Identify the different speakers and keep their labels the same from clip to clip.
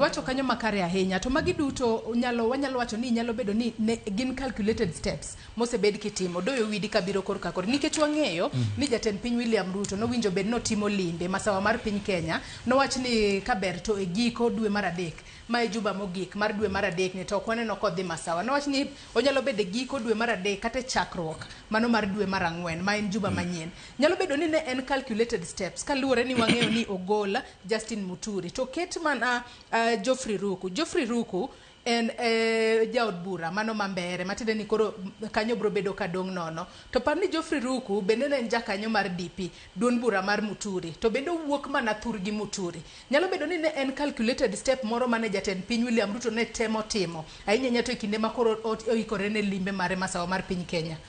Speaker 1: Iwacho kanyo makare ahinya. To magi duto nyalo wanyalo wacho ni nyalo bedo ni ne, gin calculated steps mosebed kitimo doyo widi kabiro kor kakor nikech wang'eyo mm. ni jatend piny William Ruto nowinjo bed notimo limbe masawa mar piny Kenya nowach ni kaber to e giko dwe mar adek ma e juba mogik mar dwe mar adek ni to ok waneno kodhi masawa nowach ni onyalo bedo e giko dwe mar adek kata e chakruok mano mar dwe mar ang'wen ma en juba mm. manyien nyalo bedo ni ne en calculated steps kaluwore ni wang'eyo ni ogola Justin Muturi to ket mana uh, Geoffrey Ruku. Geoffrey Ruku en eh, jaod bura mano ma mbere matiende ni koro kanyo bro bedo ka dong' nono to par ni Geoffrey Ruku bende ne en jakanyo mar DP duond bura mar Muturi to bende owuok mana thur gi Muturi nyalo bedo ni ne en calculated step moro mane jatend piny William Ruto ne temo timo ahinya ahinya to e kinde ma koro ot- oikore ne limbe mare masawa mar piny Kenya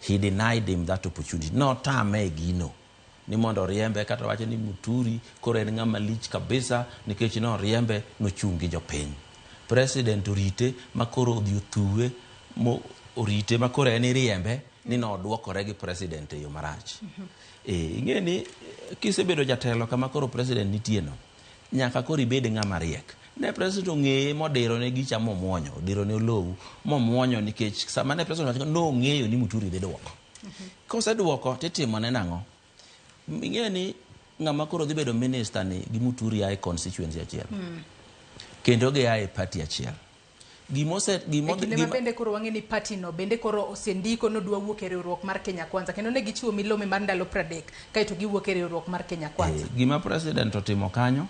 Speaker 2: He denied him that opportunity. Notame e gino ni mondo oriembe kata wacho ni Muturi koro en ng'ama lich kabisa nikech noriembe nochung' gi jopiny. President orite makoro odhi othuwe mo orite makoro en iriembe ni nodwokore gi president e yo marach. Eh, ing'e ni kisebedo jatelo kama koro president nitieno, Nyaka koro ibed ng'ama riek. Ne president ong'eye modiro ne gicha momwonyo, odiro ne olowu momwonyo nikech sama ne president wacho nong'eyo ni Muturi dhi duoko. Koseduoko titimo ne nang'o? Ing'eyo ni ng'ama koro dhi bedo minister ni gi Muturi ae constituency achiel. Hmm. Kendo gi ae party achiel. Gimose, gimo, e kinde gima... ma bende
Speaker 1: koro wang'e ni party no bende koro osendiko ni odwa wuok e riwruok mar Kenya Kwanza kendo ne gichiwo milome mar ndalo pradek kaeto giwuok e riwruok mar Kenya Kwanza. E, gima president
Speaker 2: otimo kanyo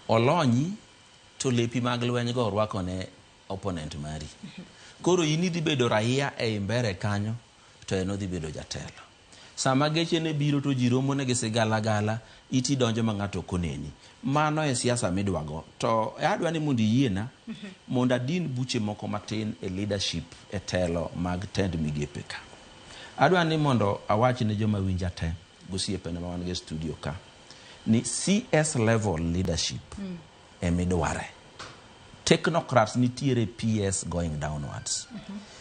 Speaker 2: olonyi to lepi mag lweny go orwako ne opponent mari. Koro in idhi bedo raia e imbere kanyo to en odhi bedo jatelo. Sama geche ne biro to ji romo ne gi sigala gala, iti donjo ma ng'ato ok oneni. Mano e siasa midwa go. To adwa ni mondo iyiena mondo adin buche moko matin e leadership e telo mag tend migepe ka. Adwa ni mondo awach ne joma winja te gosiepena ma wan go e studio ka ni CS level leadership e midware. Technocrats nitiere PS going downwards.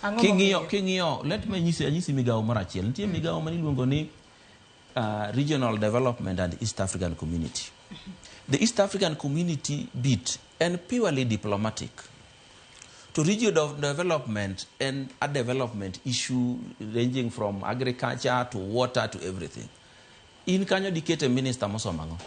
Speaker 2: Ang'o King'iyo, momiyo? king'iyo, let me nyisi, anyisi migawo moro achiel. Nitie migawo ma niluongo ni uh, Regional Development and East African Community. The East African Community bit en purely diplomatic. To region of development and a development issue ranging from agriculture to water to everything. In kanyo dikete minister mosomo ang'o?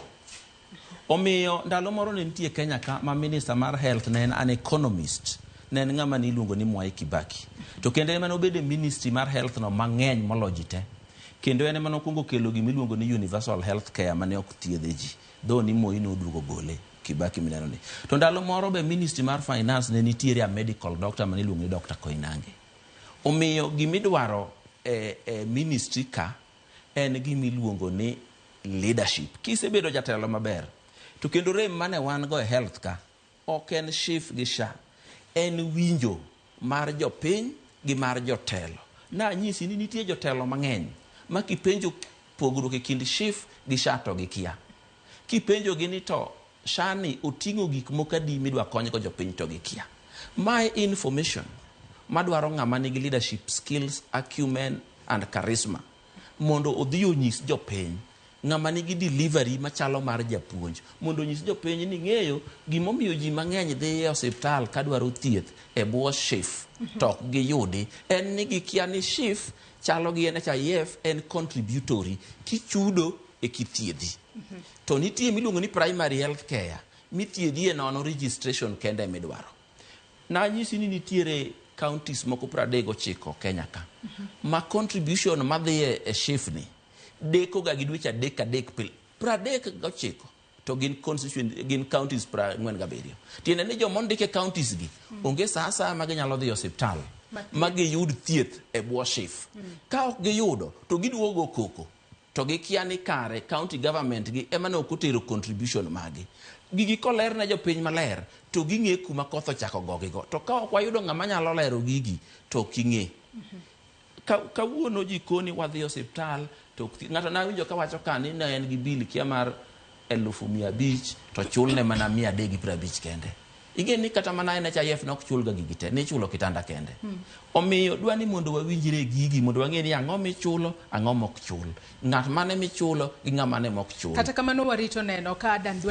Speaker 2: Omiyo ndalo moro ne nitie Kenya ka ma minister mar health ne en an economist ne en ng'ama ne iluongo ni Mwai Kibaki. To kendo ema nobedo e ministry mar health no mang'eny moloyo ji te. Kendo en ema nokwongo kelo gima iluongo ni universal health care mane ok thiedhe ji. Though ni Moi noduogo gole, Kibaki mineno ni. To ndalo moro be ministry mar finance ne nitiere a medical doctor mane iluongo ni Dr. Koinange. Omiyo gima idwaro e, e ministry ka en gima iluongo ni leadership. Kisebedo jatelo maber, to kendo rem mane wan go e health ka ok en SHIF gi SHA, en winjo mar jopiny gi mar jotelo. Nanyisi ni nitie jotelo mang'eny ma kipenjo pogruok e kind SHIF gi SHA to gikia. Kipenjogi ni to SHA ni oting'o gik moko adi midwa konygo jopiny to gikia. Ma e information madwaro ng'ama nigi leadership skills, acumen and charisma mondo odhi onyis jopiny. Ng'ama nigi delivery machalo mar japuonj mondo onyis jopiny ni ing'eyo gimomiyo ji mang'eny dhi e osiptal kadwaro thieth e bwo SHIF to ok giyudi en ni gikia ni SHIF Chalo gi NHIF en contributory kichudo e kithiedhi. To nitie miluongo ni primary health care mithiedhi e nono registration kende midwaro. Nanyisi ni nitiere counties moko 39 Kenya ka ma contribution madhiye e SHIF ni deko ga gi dweche adek adek pile. 39. to gin constituent gin counties pra ng'wen gabiriyo tiende ni joma ondik e counties gi mm. onge saa asaya ma ginyalo dhi osiptal ma giyud thieth e bwo shif mm. ka ok giyudo to giduogo koko to gikia ni kare county government gi ema ne ok otero contribution magi gigi koler ne jopiny maler to ging'e kuma koth ochako gogigo to ka ok wayudo ng'ama nyalo lero gigi to ok ing'e mm -hmm. kawuono jikoni wadhi osiptal to ng'ato nawinjo kawacho ka ni ne en gi bil kia mar elufu mia abich to chulne mana mia adek gi piero abich kende ing'e ni kata mana NHIF ne ok chulga gigi te ne ichulo kitanda kende hmm. omiyo dwa ni mondo wawinjre gigi mondo wang'e ni ang'o michulo ang'o mok chul
Speaker 1: ng'at
Speaker 2: mane
Speaker 1: michulo
Speaker 2: gi ng'ama
Speaker 1: ne
Speaker 2: mok
Speaker 1: chul
Speaker 2: kata kamano
Speaker 1: warito
Speaker 2: neno ka